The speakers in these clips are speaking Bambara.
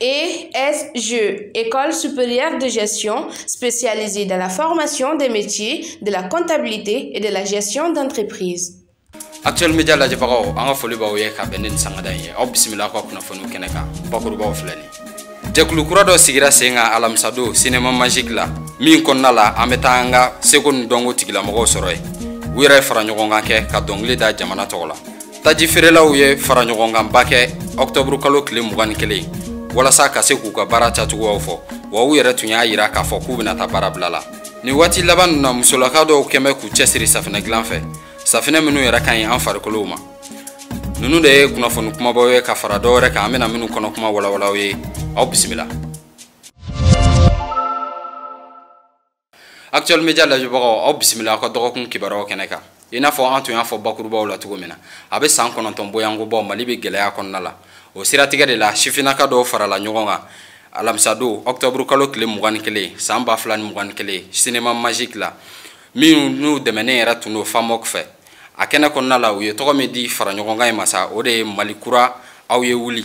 ESG, École supérieure de gestion spécialisée dans la formation des métiers de la comptabilité et de la gestion d'entreprise. Actuel Média lajɛbagaw an ka foli b'aw ye ka bɛn ni nin sangada in ye aw bisimila aw ka kunnafoniw kɛnɛ kan bakurubaw filɛ nin jɛkulu kura dɔ sigira sen kan alamisadon sinema majiki la min kɔnɔna la an bɛ taa an ka seko ni dɔnko tigilamɔgɔw sɔrɔ yen u yɛrɛ fara ɲɔgɔn kan kɛ ka dɔnkili da jamana tɔgɔ la taji feerelaw ye faraɲɔgɔnkanba kɛ ɔktɔburu kalo tile mugan ni kelen walasa ka se k'u ka baara kɛcogoyaw fɔ wa u yɛrɛ tun y'a yira k'a fɔ k'u bɛna taa baara bila la nin waati laban ninnu na musolaka dɔw kɛlen bɛ k'u cɛsiri safinɛ dilan fɛ safinɛ minnu yɛrɛ ka ɲi an farikolow ma ninnu de ye kunnafoni kumabaw ye ka fara dɔ wɛrɛ kan an bɛna minnu kɔnɔ kuma walawala aw ye aw bisimila actuel media lajɛbagaw aw bisimila aw ka dɔgɔkun kibaruyaw kɛnɛ kan i n'a fɔ an tun y'a fɔ bakurubaw la cogo min na a bɛ san kɔnɔntɔn bɔɲɔgɔnko bɔ mali bɛ gɛlɛya kɔnɔna la o siratigɛ de la sifinnaka dɔw farala ɲɔgɔn kan alamisadon ɔkutɔburu kalo tile mugan ni kelen san ba fila ni mugan ni kelen sinema majiki la minnu dɛmɛnen yɛrɛ tun don FAMOC fɛ a kɛnɛ kɔnɔna la u ye tɔgɔ min di faraɲɔgɔnkan in ma sa o de ye mali kura aw ye wuli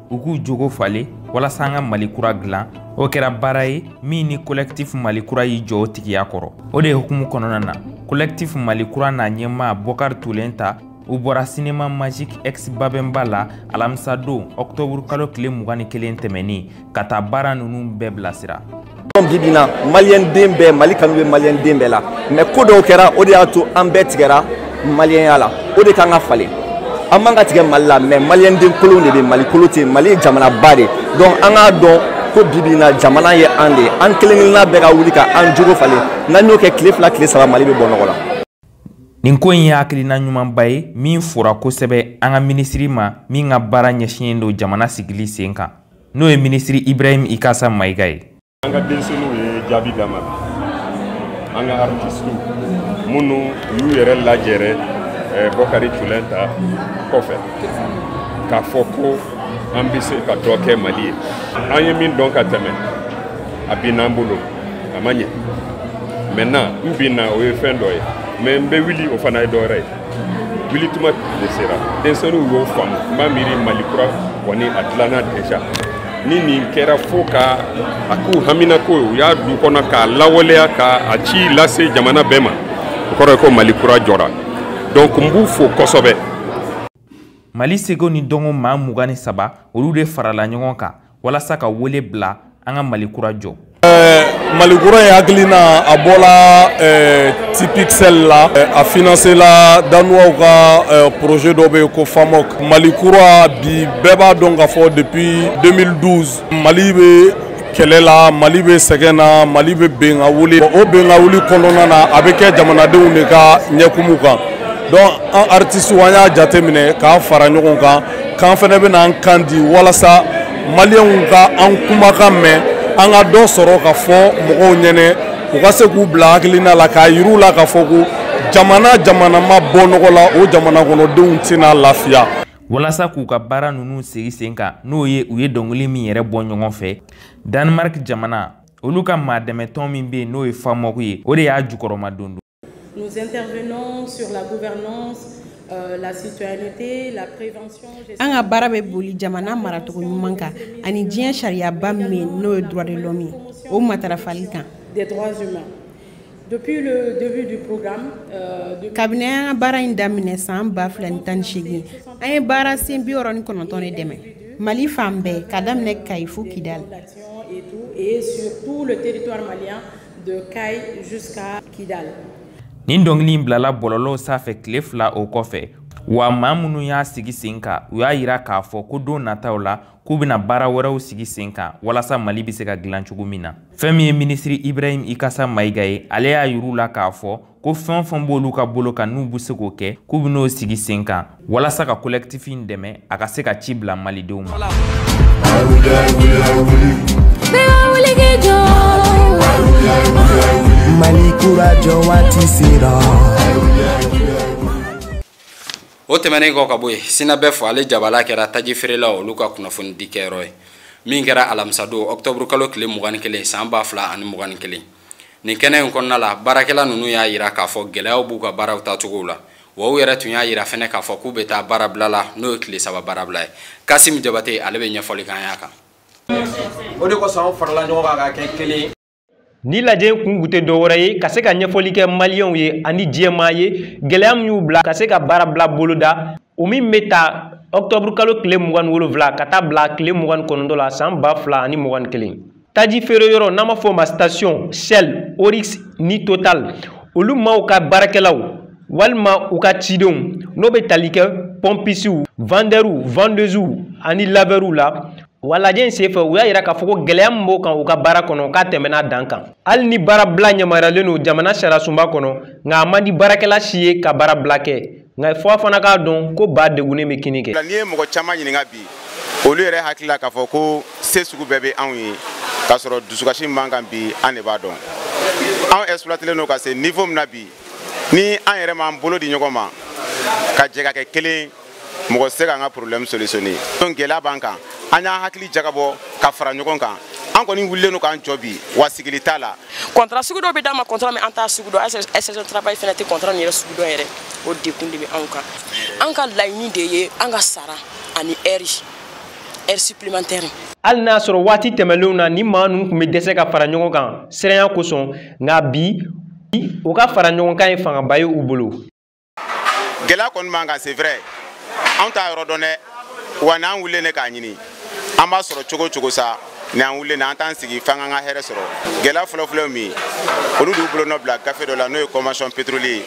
u k'u jogo falen walasa an ka mali kura dilan o kɛra baara ye min ni kolɛkitifu mali kura y'i jɔ o tigiya kɔrɔ o de hukumu kɔnɔna na kolɛkitifu mali kura n'a ɲɛmaa bɔkari tulenta u bɔra sinema magique ex babɛnba la alamisadon ɔktɔburukalo tile mugan ni kelen tɛmɛnin ka taa baara ninnu bɛɛ bilasira donc bibi na maliyɛn den bɛɛ mali kanu bɛ maliyɛn den bɛɛ la mais ko dɔw kɛra o de y'a to an bɛɛ tigɛra maliyɛnya la o de ka kan ka falen an man ka tigɛ mali la mais maliyɛn den kolon de bɛ mali kolon tɛ mali ye jamanaba de donc an k'a dɔn ko bibi na jamana ye an de an kelen kelenna bɛɛ ka wuli ka an jogo falen n'an y'o kɛ tile fila tile saba mali bɛ bɔ nɔgɔ la nin ko in ye hakilina ɲumanba ye min fora kosɛbɛ an ka minisiri ma min ka baara ɲɛsinnen don jamana sigili sen kan n'o ye minisiri ibrahim ikasa mayiga ye an ka denmisɛnninw ye jaabi d'a ma an ka artisitiw minnu y'u yɛrɛ lajɛrɛ eh, bɔkari tulenta kɔfɛ k'a fɔ ko an bɛ se ka dɔ kɛ mali ye an ye min dɔn ka tɛmɛ a binna an bolo a ma ɲɛ maintenant n binna o ye fɛn dɔ ye mais n bɛ wuli o fana ye dɔ wɛrɛ ye wulituma de sera denmisɛnninw y'o faamu n b'a miiri mali kura kɔni a dilanna déjà ni nin kɛra fo ka a k'u haminako ye u y'a d'u kɔnɔ k'a lawaleya ka a ci lase jamana bɛɛ ma o kɔrɔ ye ko mali kura jɔra donc n b'u fo kosɛbɛ mali seko ni dɔnko maa mugan ni saba olu de farala ɲɔgɔn kan walasa ka wele bila an ka mali kura jɔ mali kura ye hakilina a bɔla tipixel la a finansela danuwaw ka projet dɔ bɛ yen ko famok mali kura bi bɛɛ b'a dɔn k'a fɔ depuis 2012 mali bɛ kɛlɛ la mali bɛ sɛgɛn na mali bɛ bin ka wuli o bin ka wuli kɔnɔna na a bɛ kɛ jamanadenw de ka ɲɛkumu kan donc an artisiw an y'a jateminɛ k'an fara ɲɔgɔn kan k'an fana bɛna an kan di walasa maliyɛnw ka an kumakan mɛn an ka dɔ sɔrɔ k'a fɔ mɔgɔw ɲɛnɛ u ka se k'u bila hakilina la k'a yir'u la k'a fɔ ko jamana jamana ma bɔ nɔgɔ la o jamana kɔnɔdenw tɛna lafiya walasa k'u ka baara ninnu sigi sen kan n'o ye u ye dɔnkili min yɛrɛ bɔ ɲɔgɔn fɛ danemark jamana olu ka maa dɛmɛtɔn min bɛ yen n'o ye famok ye o de y'a jukɔrɔmadondon Nous intervenons sur la gouvernance euh, la citoyenneté, la prévention. An ka baara bɛ boli jamana maracogo ɲuman kan ani diɲɛ sariyaba min bɛ yen n'o ye droit de l'homme ye o matarafali kan. Des droits humains. Depuis le début du programme, euh, de... kabini an ka baara in daminɛ san ba fila ni tan ni seegin an ye baara sen bi wɔɔrɔ ni kɔnɔntɔn de dɛmɛ mali fan bɛɛ ka daminɛ kayi fo kidali. Et sur tout le territoire malien. de Kayes jusqu'à Kidal. Nin dɔnkili in bilala bɔlɔlɔw sanfɛ tile fila o kɔfɛ wa maa minnu y'a sigi sen kan u y'a yira k'a fɔ ko don nataw la k'u bɛna baara wɛrɛw sigi sen kan walasa mali bɛ se ka dilan cogo min na fɛn min ye minisiri ibrahim ikasa mayiga ye ale y'a yir'u la k'a fɔ ko fɛn o fɛn b'olu ka bolo kan n'u bɛ se k'o kɛ k'u bɛn'o sigi sen kan walasa ka kolɛkitifi in dɛmɛ a ka se ka ci bila malidenw ma. mali kura jɔ waati sera. o tɛmɛnen kɔ ka bɔ yen synabef ale jabala kɛra taji feerelaw olu ka kunnafonidi kɛyɔrɔ ye min kɛra alamisadon ɔkutɔburukalo tile mugan ni kelen san ba fila ani mugan ni kelen nin kɛnɛ in kɔnɔna la baarakɛla ninnu y'a yira k'a fɔ gɛlɛyaw b'u ka baaraw taacogow la wa u yɛrɛ tun y'a yira fɛnɛ k'a fɔ k'u bɛ taa baarabila la n'o ye tile saba baarabila ye kasim jabate ale bɛ ɲɛfɔli k'an y'a kan o de kosɔn an farala ɲɔgɔn kan ka kɛ kelen ye Nin lajɛ kun kun tɛ dɔwɛrɛ ye ka se ka ɲɛfɔli kɛ maliyɛnw ye ani diɲɛmaa ye gɛlɛya min y'u bila ka se ka baarabila boloda o min bɛ ta ɔkutɔburu kalo tile mugan ni wolonwula ka taa bila tile mugan ni kɔnɔntɔn la san ba fila ani mugan ni kelen taji feere yɔrɔ n'an b'a fɔ o ma station shell oryx ni total olu maaw ka baarakɛlaw walima u ka cidenw n'o bɛ tali kɛ pɔnpisiw vandɛriw vandeuziw ani lavɛriw la wa lajɛ in senfɛ u y'a yira k'a fɔ ko gɛlɛya min b'u kan u ka baara kɔnɔ k'a tɛmɛna dan kan hali ni baarabila yamaruyalen don jamana sariyasunba kɔnɔ nka a man di baarakɛla si ye ka baarabila kɛ nka fo a fana k'a dɔn ko ba degunnen bɛ kinni kɛ n'i ye mɔgɔ caman ɲininka bi olu yɛrɛ hakili la k'a fɔ ko se sugu bɛɛ bɛ anw ye k'a sɔrɔ dusukasi min b'an kan bi an de b'a dɔn anw exploitelen don ka se niveau min na bi ni an yɛrɛ m'an bolo di ɲɔgɔn ma ka jɛ ka kɛ kelen mɔgɔ se k'an ka problème solutionner donc gɛlɛya b'an kan an y'an hakili jagabɔ ka fara ɲɔgɔn kan an kɔni wulilen don k'an jɔ bi wa sigili t'a la contrat sugu dɔw bɛ d'an ma contrat min an t'a sugu dɔn inspection travail fana tɛ contrat nin yɛrɛ sugu dɔn yɛrɛ o degun de bɛ anw kan an ka laɲini de ye an ka sara ani heure heure supplémentaire hali n'a sɔrɔ waati tɛmɛnlenw na ni maa ninnu tun bɛ dɛsɛ ka fara ɲɔgɔn kan siranya kosɔn nka bi u ka fara ɲɔgɔn kan ye fangaba ye u bolo gɛlɛya kɔni b'an kan c'est vrai anw t'a yɔrɔ dɔn dɛ wa n'an wulilen de k'a ɲini an b'a sɔrɔ cogo cogo sa ni an wulilen an t'an sigi f'an k'an ka hɛrɛ sɔrɔ gɛlɛya fɔlɔfɔlɔ ye min ye olu de y'u bolonɔ bila gafe dɔ la n'o ye convention pétrolier ye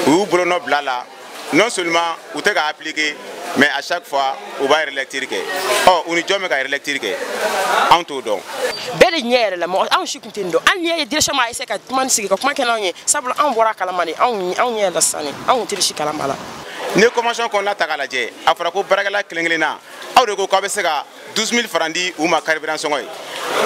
u y'u bolonɔ bil'a la non seulement u tɛ k'a appliquer mais à chaque fois u b'a relecture kɛ ɔ u ni jɔn bɛ k'a relecture kɛ anw t'o dɔn bɛɛ de ɲɛ yɛlɛla mɔgɔ anw si tɛ nin dɔn hali n'i y'a ye direction b'a essayer ka kuma ni sigi ka kuma kɛ n'anw ye sabula anw bɔra a kalama de anw anw ɲɛ yɛlɛ sisan de anw tun tɛ si kalama la n'i ye convention kɔnɔna ta k'a lajɛ a fɔra ko baarakɛla kelen kelenna aw de ko k'aw bɛ se ka 12 000 francs di u ma carburant sɔngɔ ye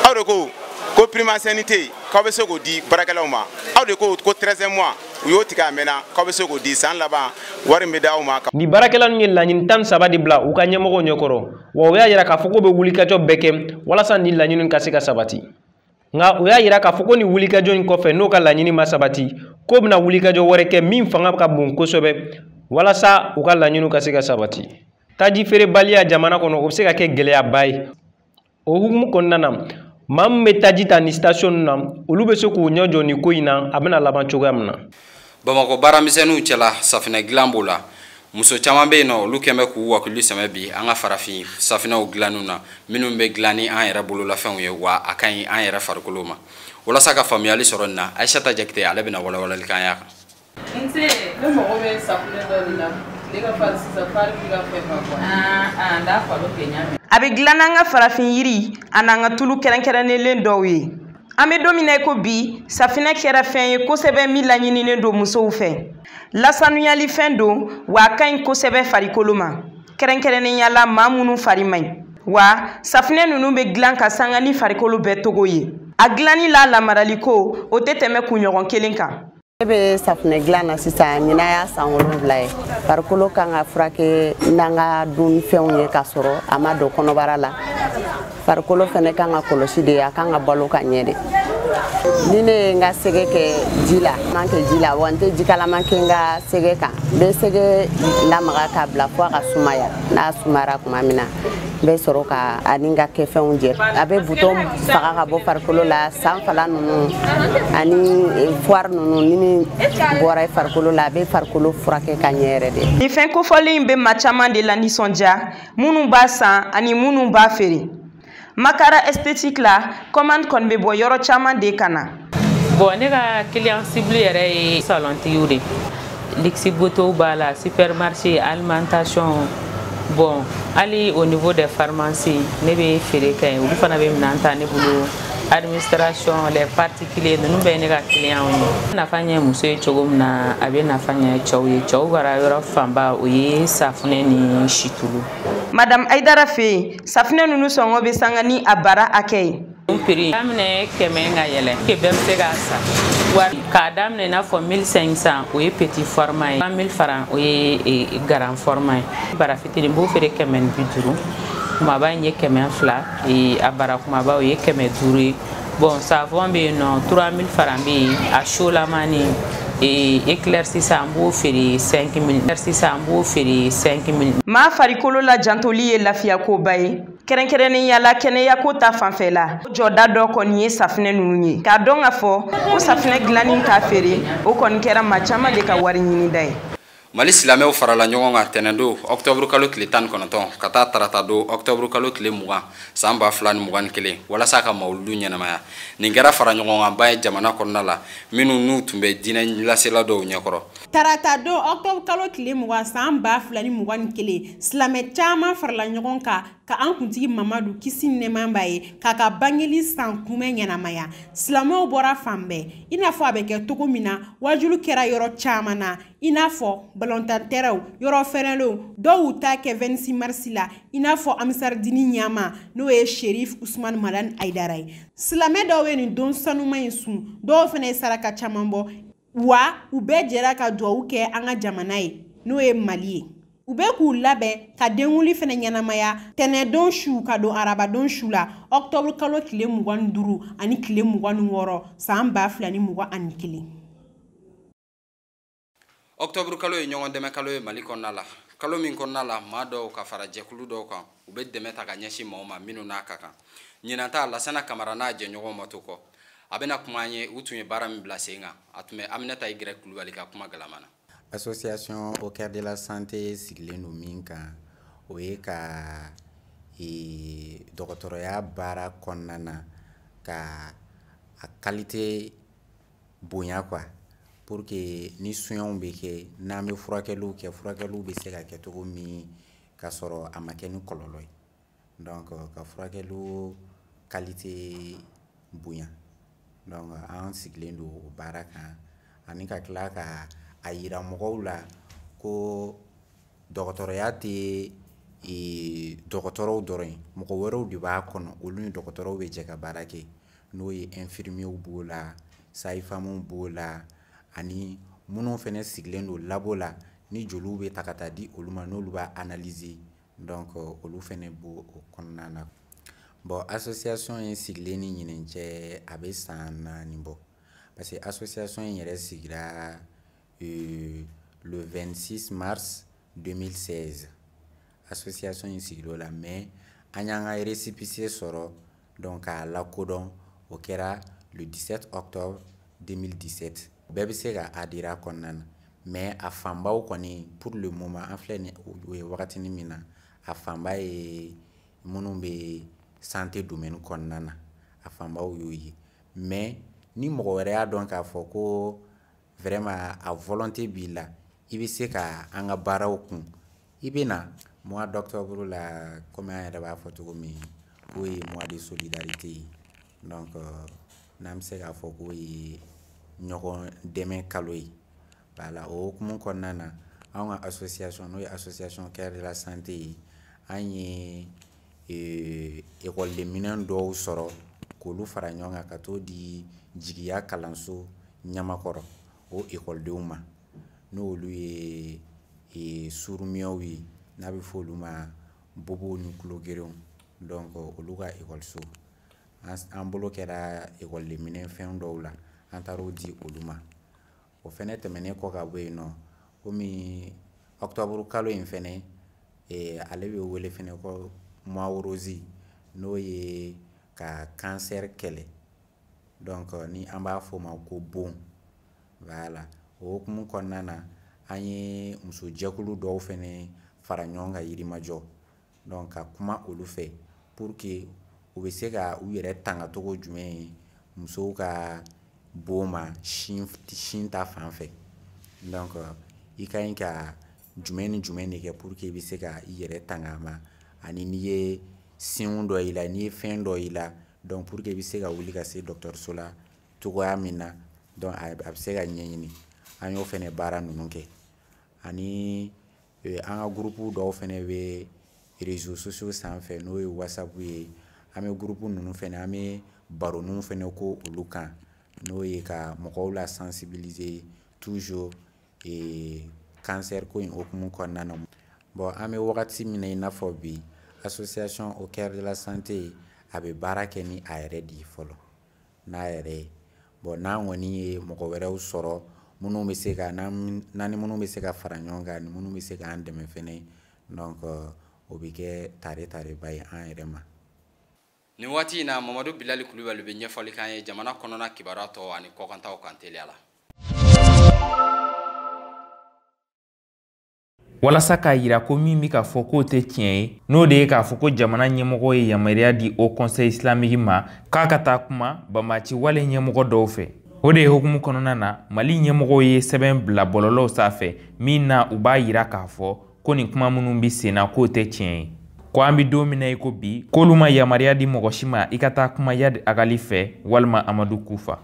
aw de ko ko prime ancienneté k'aw bɛ se k'o di baarakɛlaw ma aw de ko ko 13e mois u y'o tigɛ a mɛnna k'aw bɛ se k'o di san laban wari min bɛ d'aw ma. nin baarakɛla ninnu ye laɲini tan ni saba de bila u ka ɲɛmɔgɔw ɲɛkɔrɔ wa u y'a jira k'a fɔ k'u bɛ wulikajɔ bɛɛ kɛ walasa nin laɲini ka se ka sabati. nka o y'a yira k'a fɔ ko nin wulikajɔ in kɔfɛ n'o ka laɲini ma sabati k'o bɛna wulikajɔ wɛrɛ kɛ min fanga ka bon kosɛbɛ walasa u ka laɲiniw ka se ka sabati taji feerebaliya jamana kɔnɔ o bɛ se ka kɛ gɛlɛyaba ye o hukumu kɔnɔna na maa min bɛ taji ta nin station na olu bɛ se k'u ɲɛ jɔ nin ko in na a bɛna laban cogoya min na bamakɔ baaramisɛnninw cɛla safinɛ dilan b'o la muso caman bɛ yen n'olu kɛlen bɛ k'u wakili sɛmɛ bi an ka farafin safinɛw dilanniw na minnu bɛ dilan ni an yɛrɛ bololafɛnw ye wa a ka ɲi an yɛrɛ farikolo ma walasa ka faamuyali sɔrɔ nin na ayisata jakite ale bɛna walawalali k'an y'a kan nse ne mago bɛ safinɛ dɔ de la ne ka fari sisan fari bɛ ka fɛ ka bɔ ah, ah, n t'a falo kɛ ɲa a bɛ dilan n'an ka farafin yiri a n'an ka tulu kɛrɛnkɛrɛnnenlen dɔw ye an bɛ don min na i ko bi safinɛ kɛra fɛn ye kosɛbɛ min laɲininen don musow fɛ lasanuyali fɛn don wa a ka ɲi kosɛbɛ farikolo ma kɛrɛnkɛrɛnnenya la maa minnu fari man ɲi wa safinɛ ninnu bɛ dilan k'a sanga ni farikolo bɛɛ cogo ye a dilanni n'a lamaraliko o tɛ tɛmɛ kunɲɔgɔn kelen kan ne bɛ safunɛ dilan na sisan ɲinan y'a san wolonwula ye farikolo kan ka furakɛ n'an ka dunfɛnw ye k'a sɔrɔ a ma don kɔnɔbara la farikolo fɛnɛ kan ka kɔlɔsi de a kan ka balo ka ɲɛ de ni ne ye n ka sɛgɛ kɛ ji la man kɛ ji la wa n tɛ jikalaman kɛ n ka sɛgɛ kan n bɛ sɛgɛ lamaga k'a bila fo a ka sumaya n'a sumayara tuma min na n bɛ sɔrɔ k'a ni n ka kɛfɛnw jɛ a bɛ butɔn faga ka bɔ farikolo la sanfala ninnu ani eh, foire ninnu ni min bɔra i farikolo la a bɛ farikolo furakɛ ka ɲɛ yɛrɛ de nin fɛn kofɔlen in bɛ maa caman de la nisɔndiya minnu b'a san ani minnu b'a feere makara esthétique la commande kɔni bɛ bɔ yɔrɔ caman de ka na bon ne ka client cible yɛrɛ ye salontigiw de luxe beautéw b'a la supermarché alimentation bon hali au niveau des pharmacies ne bɛ feere kɛ yen olu fana bɛ minɛn ta ne bolo administration les particuliers ninnu bɛɛ ye ne ka clientw ye nafa ɲɛ muso ye cogo min na a bɛ nafa ɲɛ cɛw ye cɛw bara yɔrɔ fanba o ye safunɛ ni situlu madame ayidara fɛ yen safinɛ ninnu sɔngɔ bɛ sanga ni a bara hakɛ ye prix daminɛ kɛmɛ ka yɛlɛ kɛ bɛɛ bɛ se k'a san wari k'a daminɛ i n'a fɔ 1500 o ye petit format ye 3000 francs o ye e, e, grand format ye bara fitinin b'o feere kɛmɛ ni bi duuru kumaba in ye kɛmɛ fila e, a bara kumaba o ye kɛmɛ duuru ye bon savon bɛ yen nɔ 3000 francs bɛ yen a solamani éclaircissant eh, an b'o feere 5 000 éclaircissant an b'o feere 5 000 maa farikolo la jantoli ye lafiyakoba ye kɛrɛnkɛrɛnnenya la kɛnɛyako ta fanfɛla o jɔda dɔ kɔni ye safinɛ ninnu ye k'a dɔn k'a fɔ ko safinɛ dilanni k'a feere o kɔni kɛra maa caman de ka wari ɲinida ye mali silamɛw farala ɲɔgɔn kan tɛnɛndon ɔktɔburu kalo tile tan ni kɔnɔntɔn ka taa taratadon ɔktɔburu kalo tile mugan san ba fila ni mugan ni kelen walasa ka mawuludu ɲɛnamaya nin kɛra faraɲɔgɔnkanba ye jamana kɔnɔna la minnu n'u tun bɛ diinɛ lasela dɔw ɲɛkɔrɔ taratadon ɔktɔburu kalo tile mugan san ba fila ni mugan ni kelen silamɛ caman farala ɲɔgɔn kan ka an kuntigi mamadu kisi ni nɛɛma b'a ye k'a ka bangeli san kunbɛn ɲɛnamaya silamɛw bɔra fan bɛɛ i n'a fɔ a bɛ kɛ cogo min na waajuli kɛra yɔrɔ caman na i n'a fɔ balɔntan tɛrɛnw yɔrɔ fɛrɛlenw dɔw y'u ta kɛ 26 mars la i n'a fɔ ansardini ɲɛmaa n'o ye sherif usman madani ayidara ye silamɛ dɔw ye nin don sanuman in sun dɔw fana ye saraka caman bɔ wa u bɛɛ jɛra ka duwawu kɛ an ka jamana ye n'o ye mali ye u bɛ k'u labɛn ka denkunli fana ɲɛnamaya tɛnɛndon su ka don arabadon su la ɔktɔburu kalo tile mugan ni duuru ani tile mugan ni wɔɔrɔ san ba fila ni mugan ani kelen ɔktɔburu kalo ye ɲɔgɔn dɛmɛ kalo ye mali kɔnɔna la kalo min kɔnɔna la maa dɔw ka fara jɛkulu dɔw kan u bɛ dɛmɛ ta ka ɲɛsin maaw ma minnu n'a ka kan ɲinan ta lasana kamara n'a jɛɲɔgɔnw ma to kɔ a bɛna kuma an ye u tun ye baara min bila sen kan a tun bɛ aminata i gɛrɛ kulubali ka kuma galama na association au cœur de la santé sigilen don min kan o ye ka e, dɔgɔtɔrɔya baara kɔnɔna na ka a kalite bonya quoi pour que ni soinw bɛ kɛ n'an bɛ furakɛliw kɛ furakɛliw bɛ se ka kɛ cogo min k'a sɔrɔ a ma kɛ ni kɔlɔlɔ ye donc ka furakɛliw kalite bonya donc an sigilen don o baara kan ani ka tila ka a yira mɔgɔw la ko dɔgɔtɔrɔya tɛ e, dɔgɔtɔrɔw dɔrɔn ye mɔgɔ wɛrɛw de b'a kɔnɔ olu ni dɔgɔtɔrɔw bɛ jɛ ka baara kɛ n'o ye infirmiyew b'o la sayifamuw b'o la ani minnu fɛnɛ sigilen don labo la ni joliw bɛ ta ka taa di olu ma n'olu b'a analyser donc olu fɛnɛ b'o o kɔnɔna na bon association in sigilen ni ɲinɛn cɛ a bɛ san naani bɔ parce que association in yɛrɛ sigira euh, le 26 mars 2016 association in sigir'o la mais an y'an ka récépissé sɔrɔ donc k'a lakodɔn o kɛra le 17 octobre 2017 bɛɛ bɛ se ka adhérer a kɔnɔna na mais a fanbaw kɔni pour le moment an filɛ ni o ye wagatini min na a fanba ye minnu bɛ santé domaine kɔnɔna na a fanbaw y'o ye mais ni mɔgɔ wɛrɛ y'a dɔn k'a fɔ ko vraiment a volonté b'i la i bɛ se ka an ka baaraw kun i bɛ na mois d'octobre la comme an yɛrɛ b'a fɔ cogo min k'o ye mois de solidarité ye donc euh, n'an bɛ se k'a fɔ k'o ye ɲɔgɔn dɛmɛ kalo ye voilà o hukumu kɔnɔna na an ka association n'o ye association cœur de la santé ye an ye euh, ekɔliden minɛn dɔw sɔrɔ k'olu fara ɲɔgɔn kan ka t'o di jigiya kalanso ɲamakɔrɔ o ekɔlidenw ma n'olu ye e, surumiyɛw ye n'a bɛ fɔ olu ma bobow ni tulogerenw donc olu ka ekɔliso an bolo kɛra ekɔlidenminɛn fɛn dɔw la an taar'o di olu ma o fɛnɛ tɛmɛnen kɔ ka bɔ yen nɔ komi ɔkutɔburu kalo in fɛnɛ e, ale bɛ wele fɛnɛ ko mois rose n'o ye ka kansɛri kɛlɛ donc euh, ni an b'a fɔ o ma ko bɔn voilà o hukumu kɔnɔna na an ye muso jɛkulu dɔw fɛnɛ fara ɲɔgɔn kan yirimajɔ donc ka kuma olu fɛ pour que u bɛ se ka u yɛrɛ tanga cogo jumɛn ye musow ka bɔn ma sin sin ta fan fɛ donc i ka ɲi ka jumɛn ni jumɛn de kɛ pour que i bɛ se ka i yɛrɛ tanga a ma ani n'i ye signe dɔ y'i la n'i ye fɛn dɔ y'i la donc pour que i bɛ se ka wuli ka se dɔgɔtɔrɔso la cogoya min na donc a bɛ se ka ɲɛɲini an y'o fɛnɛ baara ninnu kɛ ani e, an ka gurupu dɔw fɛnɛ bɛ réseaux sociaux sanfɛ n'o ye whatsapp ye an bɛ gurupu ninnu fɛnɛ an bɛ baroninw fɛnɛ kɛ olu kan n'o ye ka mɔgɔw la sensibiliser toujours ee kansɛri ko in hukumu kɔnɔna na bon an bɛ wagati min na i n'a fɔ bi association au cœur de la santé a bɛ baara kɛ ni a yɛrɛ de ye fɔlɔ n'a yɛrɛ ye bon n'an kɔni ye mɔgɔ wɛrɛw sɔrɔ minnu bɛ se ka n'an ni minnu bɛ se ka fara ɲɔgɔn kan ni minnu bɛ se k'an dɛmɛ fɛnɛ donc o bɛ kɛ tare tareba ye an yɛrɛ ma nin waati in na mamadu bilali kulubali bɛ ɲɛfɔli k'an ye jamana kɔnɔna kibaruya tɔw ani kɔkantaw kan teliya la walasa k'a yira ko min bɛ k'a fɔ k'o tɛ tiɲɛ ye n'o de ye k'a fɔ ko jamana ɲɛmɔgɔw ye yamaruya di haut conseil islamique ma k'a ka taa kuma banbaci wale ɲɛmɔgɔ dɔw fɛ o de hukumu kɔnɔna na mali ɲɛmɔgɔw ye sɛbɛn bila bɔlɔlɔw sanfɛ min na u b'a yira k'a fɔ ko nin kuma minnu bɛ sen na k'o tɛ tiɲɛ ye ko an bɛ don min na i ko bi k'olu ma yamaruya di mɔgɔ si ma i ka taa kuma iyadi agali fɛ walima amadu kufa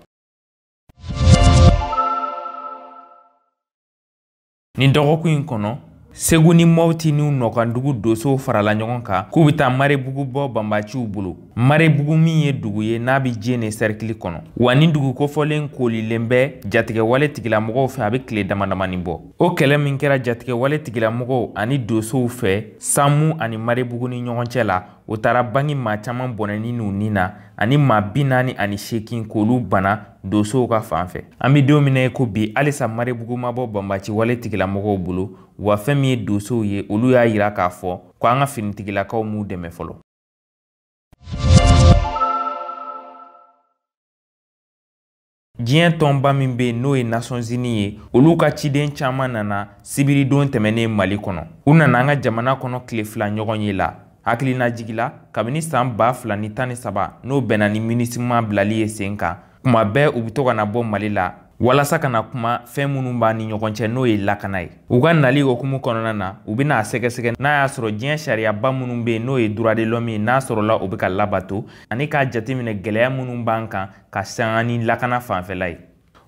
nin dɔgɔkun in kɔnɔ segu ni mɔti n'u nɔkandugu dosow farala ɲɔgɔn kan k'u bɛ taa marebugu bɔ banbaciw bolo Marebugu min ye dugu ye n'a bɛ jɛnɛ sɛrikili kɔnɔ wa nin dugu kofɔlen koolilen bɛ jatigɛwale tigilamɔgɔw fɛ a bɛ tile damadamani bɔ o kɛlɛ min kɛra jatigɛwale tigilamɔgɔw ani dosow fɛ samu ani marebugu ni ɲɔgɔn cɛ la o taara bangi maa caman bɔnɛni n'u ni na ani maa bi naani ani seegin k'olu bana dosow ka fan fɛ an bɛ don min na i ko bi halisa marebugu ma bɔ banbaciwale tigilamɔgɔw bolo wa fɛn min ye dosow ye olu y'a yira k'a fɔ ko an ka finitigilakaw m'u dɛmɛ fɔlɔ diɲɛ tɔnba min bɛ n'o ye nations unies ye olu ka ciden caman nana sibiridon tɛmɛnen mali kɔnɔ u nana an ka jamana kɔnɔ tile fila ɲɔgɔnye la hakilinajigi la kabini san ba fila ni tan ni saba n'o bɛnna ni minusma bilali ye sen kan kuma bɛɛ u bɛ to ka na bɔ mali la walasa ka na kuma fɛn minnu b'an ni ɲɔgɔn cɛ n'o ye lakana ye u ka nali hukumu kɔnɔna na u bɛna a sɛgɛsɛgɛ n'a y'a sɔrɔ diɲɛ sariyaba minnu bɛ yen n'o ye droits de l'homme ye n'a sɔrɔla u bɛ ka labato ani k'a jateminɛ gɛlɛya minnu b'an kan ka sanga ni lakana fanfɛla ye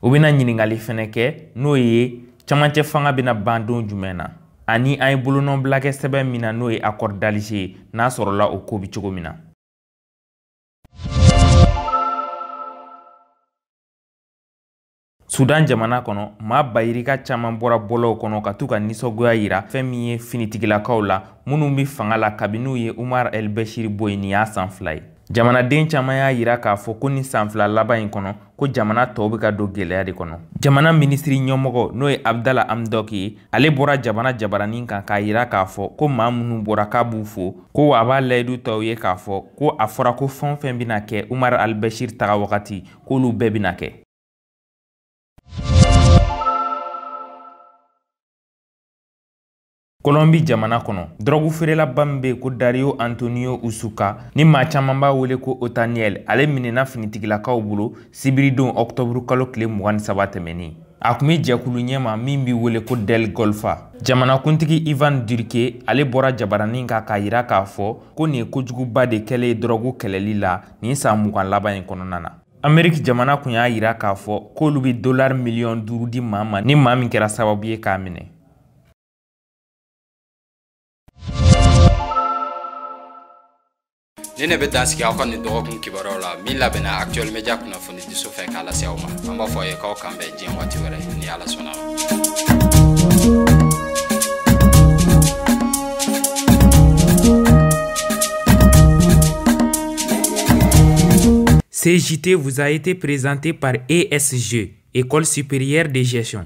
u bɛna ɲininkali fɛnɛ kɛ n'o ye camancɛ fanga bɛna ban don jumɛn na ani an ye bolonɔbila kɛ sɛbɛn min na n'o ye accord d'alger ye n'a sɔrɔla o ko bɛ cogo min na sudan jamana kɔnɔ maa bayirika caaman bɔra bɔlɔw kɔnɔ ka t'u ka ninsɔngoya yira fɛɛn min ye finitigilakaw la minnu be fanga la kabini u ye umar el bɛshiri bɔ yi nin y'a san fila ye jamanaden caaman y'a yira k'a fɔ ko ni san fila laban in kɔnɔ ko jamana tɔw bɛ ka don gɛlɛya de kɔnɔ jamana minisiri ɲɛmɔgɔ n'o ye abdala amdɔk ye ale bɔra jamana jabaranin kan k'a yira k'a fɔ ko maa minnu bɔra k'a b'u fo ko wa a b'a layidu ta u ye k'a fɔ ko a fɔra ko fɛn o fɛn bɛna kɛ umar albashir taga wagati k'olu bɛɛ bɛna kɛ kolɔnbi jamana kɔnɔ dɔrɔgu feerelaba min be ko dario antonio usuka ni maa caaman b'a wele ko otaniel ale minɛna finitigilakaw bolo sibiridon ɔktɔburu kalo tile mugan ni saba tɛmɛnin a kun be jɛkulu ɲɛma min be wele ko del golfa jamanakuntigi ivan durke ale bɔra jabaranin kan k'a yira k'a fɔ ko nin ye kojuguba de kɛlen ye dɔrɔgu kɛlɛli la nin san mugan laban in kɔnɔna na ameriki jamana kun y'a yira k'a fɔ k'olu be dolari miliyɔn duuru di maa ma ni maa min kɛra sababu ye k'a minɛ nin ne bɛ dan sigi aw ka nin dɔgɔkun kibaruyaw la min labɛnna actuel media kunnafoni diso fɛ k'a lase aw ma an b'a fɔ aw ye k'aw k'an bɛn diɲɛ waati wɛrɛ ni ala sɔnna Ce JT vous a été présenté par ESG, École supérieure de gestion.